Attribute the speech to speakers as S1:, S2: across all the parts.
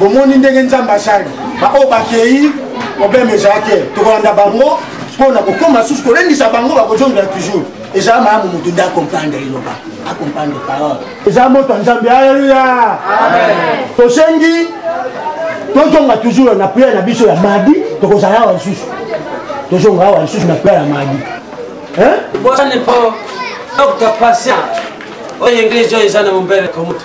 S1: bomoni ndenge nzambe asali baoyo bakei problème ezala te tokolanda bango mpo na kokoma susu kolendisa bango bakozongela toujours ezala malamu moto nde acomprendre eloba acomprendre parole ezala moto ya nzambe aleluya tosengi tozonga toujours na priere na biso ya madi tokozala awa lisusu tozonga awa lisusu na priere ya madi
S2: bosani mpo dr patient oyo englise oyo eza na mombele komutu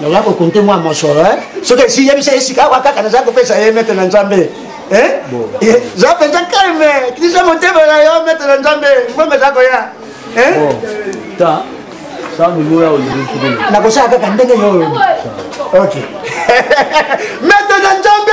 S1: naza kokonte mwa mosolo eh? soki esi yebisa ye sika awa kaka naza kopesa ye mete na nzambe eh? eh, za mpenza kalme kisa motema na yo mete na nzambe mbongo eza koya nakosala kaka ndenge yo oyo mete na nzambe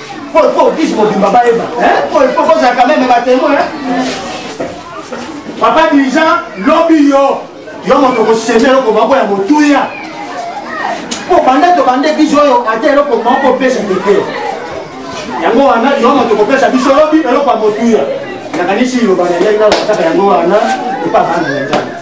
S1: Paul Paul biso mobimba bayeba Paul Paul kozala quand même batemoin papa dirigeant lobi yo yo moto okoseme eloko moko ya motuya mpo banda tobande biso oyo ata eloko moko opesa te te yango wana yo moto okopesa biso lobi eloko ya motuya nakanisi liloba na ngai nalobakaka yango wana epa bana na nzambe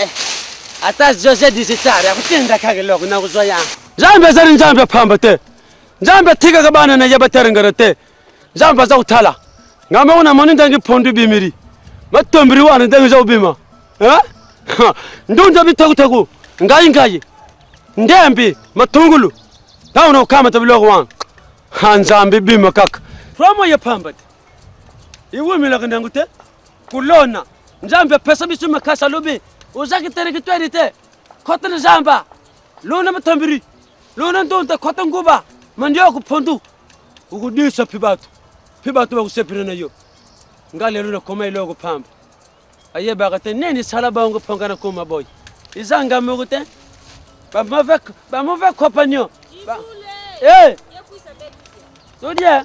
S2: Eh, ata jose digital akutinda kaka eloko nakozwa yango nzambe ezali nzambe pamba te nzambe atikaka bana na ye baterengere te nzambe aza kotala ngai moko namoni ndenge pondu ebimiri matombiri wana ndenge eza kobima eh? ndunda bitekuteku ngai ngai ndembi matungulu ntango nakokamata biloko wana nzambe bima kaka promo ye pamba te iwumelaka na yango te kolona nzambe apesa biso makasi alobi ozaki terekitweri te kota na zamba lona matambiri lona ndonda kota nguba mandioko pondu okudisa mpe bato mpe bato bakosepela na yo nga lelo nakoma eloko pamba ayebaka te nini esala bango mpo nga nakoma boye eza nga moko te bamove compagnon eh! tolie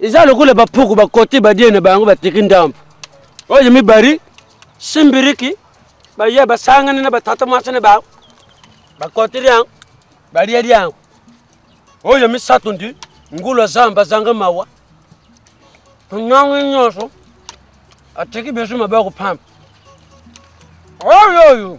S2: eza lokola bapuku bakoti badie na bango batiki ndambo oyo mibari simbiriki baye basangani na batata mwasi na bango bakoti lyango balie lyango oyo misato ndi ngulu azamba azanga mawa nyango nyonso atiki biso mabe ya kopamba oyo oyo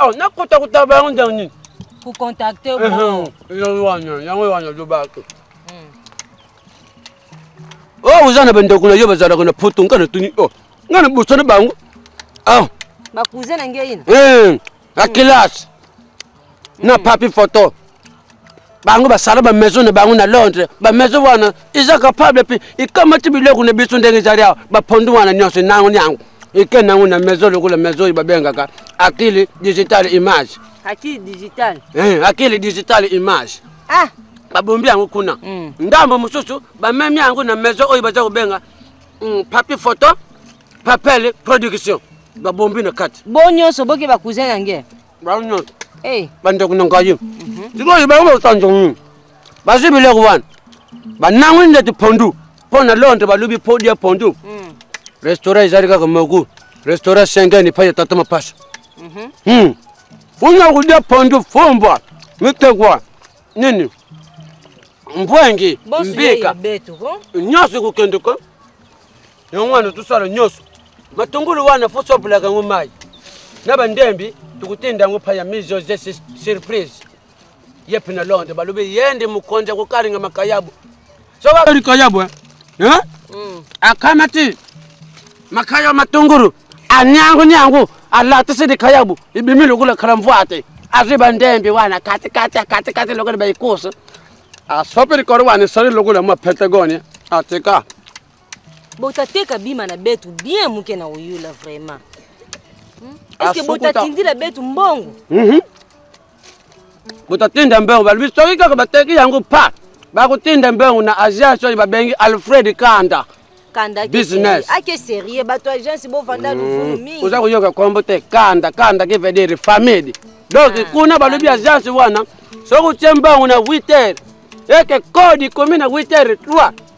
S2: oh, nakota kota bango ndenge nini kocontacte
S3: yango wana yango
S2: wana lobaki hmm. o oh, oza na bandeko na yo bazalaka na poto ngai natuni o oh, ngai nabosana bango ah.
S3: bakousin na ngai na eh, na kelasi
S2: na hmm. papi photo bango basala bamaison na bango na londres bamaison wana eza capable mpe ekamati biloko na biso ndenge ezali awa bapondu wana nyonso nango nyango eke nango na maison lokola maison oyo babengaka akili digital image akili digital
S3: eh, akili digital
S2: image ah. babombi yango kuna mm. ndambo mosusu bamemi yango na maison oyo baza kobenga mm, papi photo papele production babombi na kati bo nyonso boke bakousin
S3: yange eh.
S2: bandeko na
S1: ngai mhm. sikoyo bango bakosanjo nini bazwi biloko wana banangwi ndeti pondu mpo na londe balobi podi ya pondu mm. restaurant ezali kaka moku restaurant sengeni epai ya tata mapasa mhm. hmm. kuna kulya pondu fumbwa mitegwa nini mbwengi mbika nyonso kokendeka yango wana tosala nyonso matungulu wana fo sobolaka yango mai na bandembi tokotenda yango pa ya mise surprise ye mpe na londre balobi ye nde mokonzi akokalinga makayabu sokalikayabu eh? eh? mm. akamati makaya matungulu anyangu nyangu alatisi likayabu ibimi lokola kalamvwate azwi bandembi wana katikati katikati lokola baikosa asopi likolo wana esali lokola mwa pentagonia atika
S3: botateka bima na betu bien muke na oyula vraiment hmm? eske botatindila betu mbongo mhm.
S1: botatinda mbongo balobi soki kaka bateki yango pa bakotinda mbongo na agence oyo babengi alfred kanda kanda business ake sérieux
S3: bato agence bovanda luvunu hmm. mingi oza koyoka nkombo te
S1: kanda kanda qui veut dire famille donc ah, kuna balobi agence wana soki otie mbongo na 8 heures eke kodi komi na 8 heures 3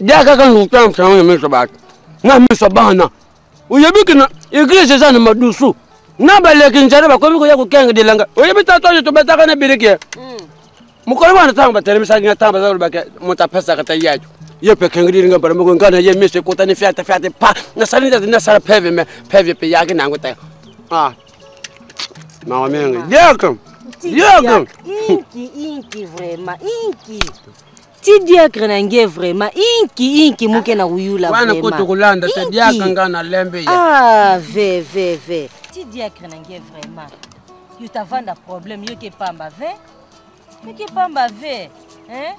S2: dia kaka ntango na miso bato na miso bana oyebi kina eglise eza na madusu na baleki njana bakomi koya kokenga dilanga oyebi tata oyo tobataka na biliki hmm. mokolo wana ntango batelemisaki nga ntango baza kolobaka moto apesaka ta yaco ye mpe kengi dilinga mbala moko nga na ye miso ekotani fiate fiate pa nasali ndati nasala peve me peve mpe yaki na yango te ah. mawa mingi diaka diaka inki
S3: inki vraiment inki ti diacre na nge vraiment inki inki moke na koyula wana ko tokolanda
S2: te
S3: diacre
S2: nga na lembe ya ah ve ve ve
S3: ti diacre na nge vraiment yo tavanda problème yo ke pamba ve yo ke pamba ve hein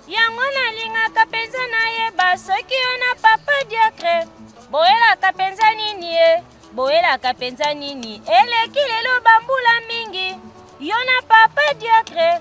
S3: yango
S4: nalingaka mpenza nayeba soki yo na papa diacre boyelaka mpenza nini ye boyelaka mpenza nini eleki lelo bambula mingi yo na papa diacre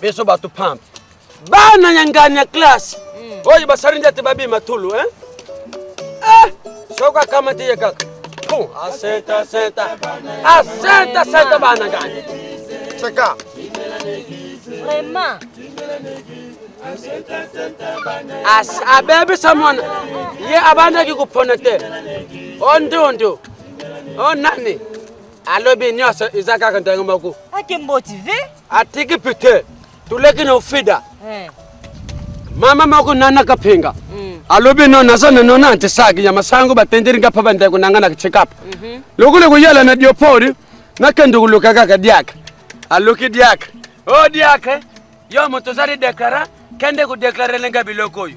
S2: biso bato pampe bana ya ngani ya classe mm. oyo basali nde te babima tulu eh? eh, soki akamati ye kaka aseta seta aseta seta bana ngani seka
S3: vraiment
S2: abebisa mwana ye abandaki kopona te o ndundu o nani alobi nyonso eza kaka ndenge moko ake motive
S3: atiki pite
S2: tuleki na ofida eh. mama moko nanaka penga mm. alobi no naza na nona nti saki ya masango batendeli nga mpe bandeko na nga na checkup mhm. lokuli kuyala na diopori nakende kuluka kaka diaka aluki diaka o oh, diaka yo moto ozali deklara kende kodeklare lenga biloko oyo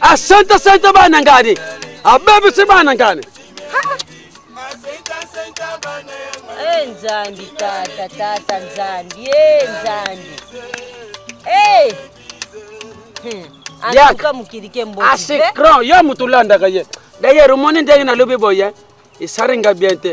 S2: asanta santa bana ngani abebisi bana ngani Eh,
S3: nzambi tata tata nzambi e nzambi e eh. antuka hmm. mokili ke mboasikrand yo moto
S2: olandaka ye dayere omoni ndenge nalobi boye esalinga bien te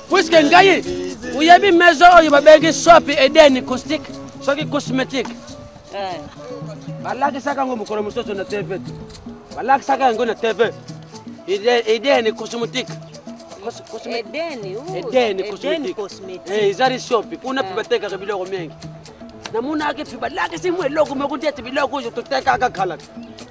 S2: puiske ngai oyebi maison oyo babengi sopi edeni caustique soki cosmétique eh. balakisaka yango mokolo mosusu na tv balakisaka yango na tv edeni cosmétique edeni cosmétique eh, ezali sopi kuna mpe eh. batekaka biloko mingi namonaki mpe balakisi mwa eloko moko nde ete biloko oyo totekaka kala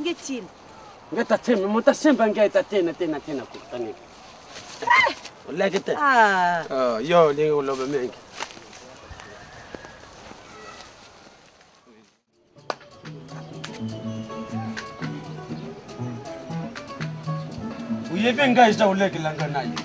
S2: nge
S3: tine nge ta
S2: teme mo ta semba nge ta tena tena tena ko tane eh! olaki te ah. oh, yo ndenge oloba mingi oyebi ngai eza olekela ngai na ye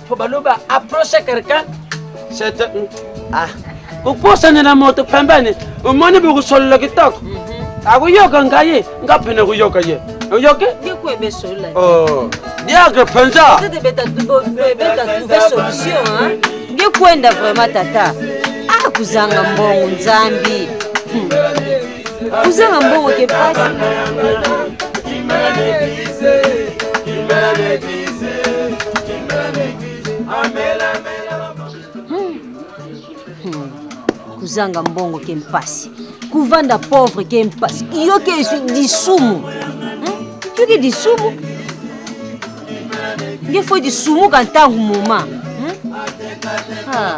S2: po baloba approche quelqu'un c'est mm, ah kokosana na moto pembeni omoni bokosolola kitoko mhm. akoyoka ngai nga mpe nakoyoka ye oyoki
S3: oh. diagre
S2: mpenza
S3: ngekwenda vraiment tata akuzanga ah, mbongo nzambi hmm. kozanga mbongo ke pasi kozanga mbongo ke mpasi kovanda pauvre ke mpasi yoke lisumu yoke lisumu nge fo lisumuka ntango moma hmm? ah.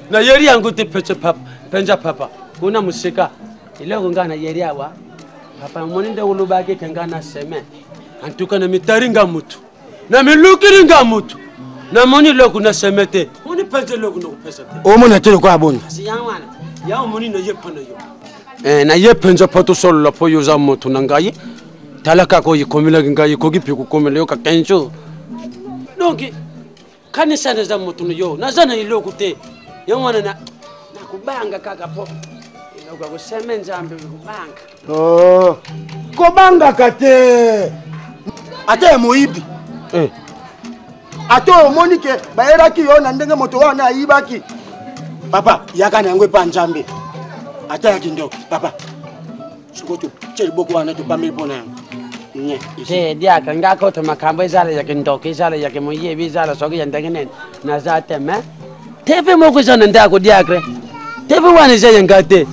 S2: na yeri yango te pece papa penja papa kuna mosika eloko ngai na yeri awa papa moni nde olobaki ke ngai na semaine antuka na mitari nga motu na milukiri nga motu namoni eloko na seme te moni penza eloko nakopesa te omona te lokola boni
S1: yango
S2: moni naye mpo na yo eh, naye mpenza mpo tosolola mpo yo oza moto na ngai tala kaka oyo ekomelaki ngai ekoki mpe kokomela yo ka 15 jours donc kanisa naza moto na yo naza na eloko te yango wana na nakobanga kaka po eloko ya koseme nzambe kobanga oh,
S1: kobangaka te ata ya moyibi eh. ata omoni ke bayelaki yo na ndenge moto wana ayibaki papa yaka na yango epa nzambe ata ya kindoki papa sikoyo totye liboko wana topameli mpo na yango te diaka
S2: nga koto makambo ezala ya kindoki ezala ya kimoyibi ezala soki ya ndenge nini naza te me tv moko eza na ndako diakre tv wana eza ya nga te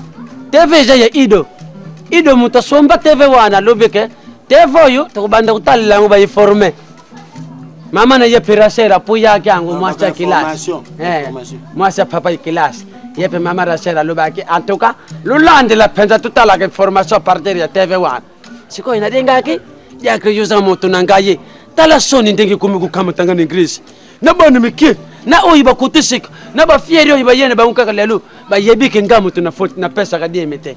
S2: tv eza ya ido ido moto asomba tv wana alobi ke tv oyo tokobanda kotalela yango baiforme mama na ye perasera po yaki yango mwasi ya kelasi eh, mwasi ya papa ya kelasi ye mpe mama rachel alobaki en tout cas lolandela mpenza totalaka information partir ya tv wana sikoyo nalingaki diakre yoza moto na ngai ye tala soni ndenge ekomi kokamatanga na eglise na bana mike na oyo bakotisika na bafieri oyo bayene bango kaka lelo bayebike ngai moto napesaka dieme te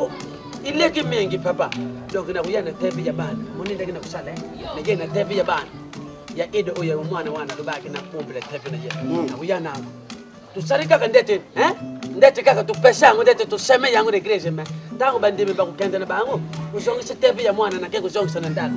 S2: oh, ileki mingi papa donc nakuya na tv ya bana moni ndenge nakusala eh? naye na tv ya bana ya ede oyo ya mwana wana alobaki na pombela tv na ye hmm. nakuya nango tosali kaka ndete eh? ndete kaka topesa yango ndete toseme yango na eglise me ntango bandimi bakokende na bango kozongisa tv ya mwana nake kozongisa na ndako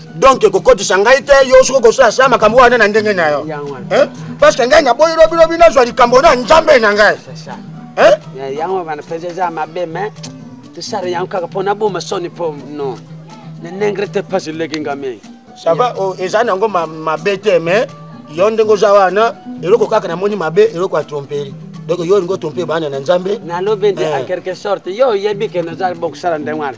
S2: donc kokotisa
S1: ngai te yo soki okosala sala makambo wana na ndenge na yo parce que ngai naboyi lobilobi nazwa likambo na nzambe na ngai
S2: yango wana mpenza eza mabe me tosala yango kaka mpo naboma soni mpo no na ndenge te mpasi eleki nga mingi ça va oh,
S1: eza nango mabe te mais yo ndenge oza wana eloko kaka namoni mabe eloko ya tromperi donc yo olingi otompe bana na nzambe nalobi nde en eh. quelque
S2: sorte yo oyebi ke nazali bokosala ndenge wana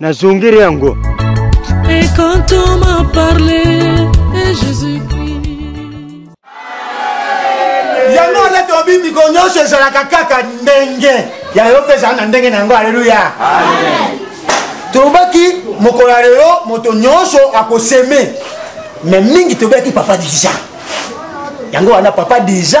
S1: Na zongere yango. Et
S5: quand on m'a parlé de Jésus-Christ.
S1: Yango nde tobimi ko nyonso ezalaka kaka ndenge ya yo mpe ezala na ndenge na yango aleluya tolobaki mokolo ya lelo moto nyonso akoseme me mingi tobelaki papa deja yango wana papa deja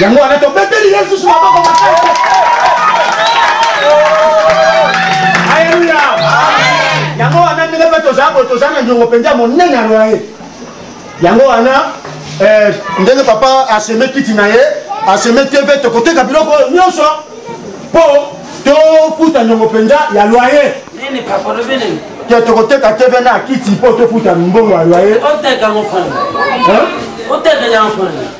S1: yango wana tobeteli ye lisusu maboko makasi aleluya yango wana ndenge mpe tozala boye toza na nyongo mpenza monene yango ya ye yango wana eh, ndenge papa aseme kiti na ye aseme tv tokoteka biloko oyo nyonso mpo tofuta nyongo mpenza ya loyer
S2: te tokoteka tv
S1: na kiti mpo tofuta mbongo ya loyer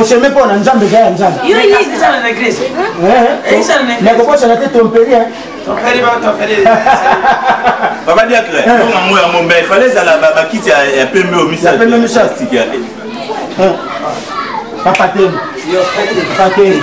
S1: oseme mpo na nzambe eza ya nzambe nakokosana te tomperi
S6: papa diacre yango yango mbe fale ezala bakiti ya pembe oyo misatike
S1: papa teni papa teni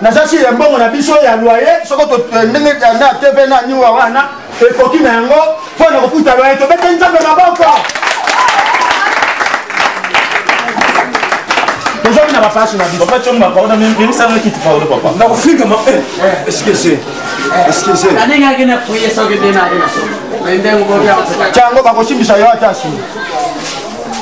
S1: naza siri ya mbongo na biso ya loye soko eh, ndenge eh, na tv na niwa wana ekoki na yango mpo na kofuta loye tobete nzambe maboko tozongi na bapasi na biso
S6: nakofinga mabe
S7: eskese eskese
S2: cango bakosimbisa
S1: yo ata nsima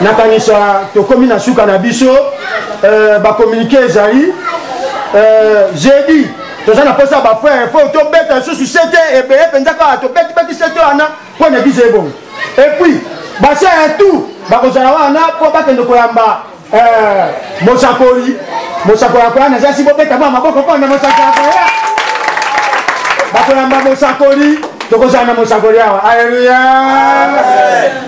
S6: nakanisa
S1: tokomi na suka na biso euh, bakomunike ezali euh, jeudi toza na mposa bafrere fo tobeta lisusu sete ebele mpenza kaka tobetibeti sete wana mpo na eglise ebongo epuis base ya tout bakozala wana mpo bakende koyamba euh, mosakoli mosakoli akoya na zasi bobeta mwa maboko mpo na mosakoli akoya bakoyamba mosakoli tokozala na mosakoli awa aleluya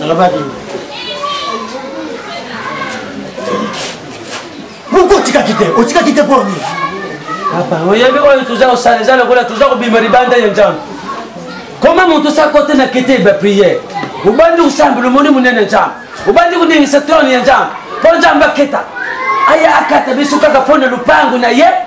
S1: nalobaki pourkui otikaki te otikaki te mpo nini papa
S2: oyebi oyo toza kosala eza lokola toza kobima libanda ya nzambe koma moto sa kote na kete ba priere obandi kosambela omoni monene nzambe obandi koningisa trone ya nzambe mpo nzambe aketa aya akata biso kaka mpo na lopango na ye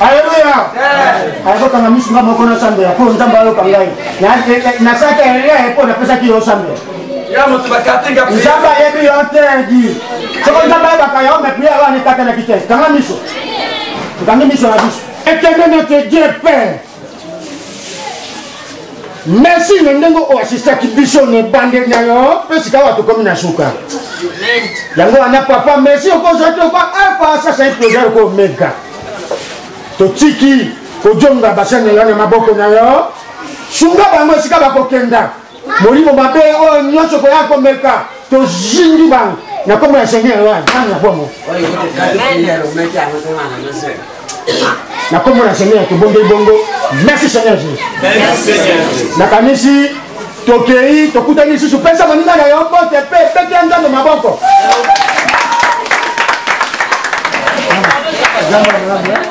S2: aleluya
S1: ayakokanga misu nga moko nasambela mpo nzambe ayoka ngai nasalaki erreur mpo napesaki yo osambela
S2: nzambe ayebi yo te
S1: di soko nzambe ayebaka yo me priere wana ekatelaki te kanga miso okangi miso na biso ekende na te dieu père merci na ndenge oyo asistaki biso na ebandeli na yo mpe sikawa tokomi na suka yango wana papa merci okozwa toko alfa sasa iploza yoko omega totiki kojonga basani na yo na maboko na yo sunga bango esika bakokenda molimo mabe oyo nyonso koya komeka tozindi bango na nkombo ya seigneur oyo azangi na bongo na nkombo na seigneur tobondeli bongo merci seigneur jesus nakanisi tokei tokutani lisusu pesa moninga na yo bote mpe pete ya nzambe maboko Gracias.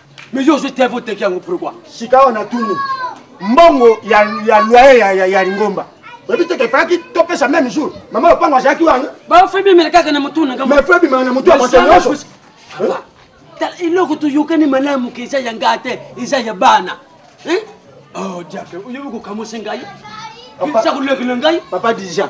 S2: Mais yo ozwi tv oteki yango pourquoi sikawa natuni
S1: mbongo ya, ya loyer ya, ya, ya lingomba oyebi te kefalaki topesa meme jour mama lopango azalaki wana bafebi emela kaka na
S2: motu na ngambo mafebi mala na motu ya
S1: bato
S2: nyonso eloko toyokani malamu ke eza ya ngaa te eza ya bana oh, diable oyebi kokamwisa ngai eza kolekela ngai papa dijan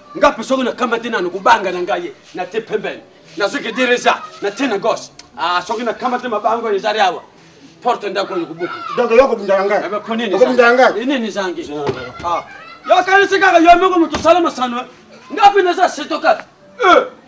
S2: nga mpe soki nakamati nanu kobanga na ngai na te pembeni nazoki dereja na te na gauche ah, soki nakamati mabango ezali awa porte ndako oyo kobuka donc yo okobundaka
S1: ngai eh, okobundaka ngai
S2: nini
S1: ezangi ah.
S2: yo okanisi kaka yo moko moto osala masano eh? nga mpe naza seto kaka eh.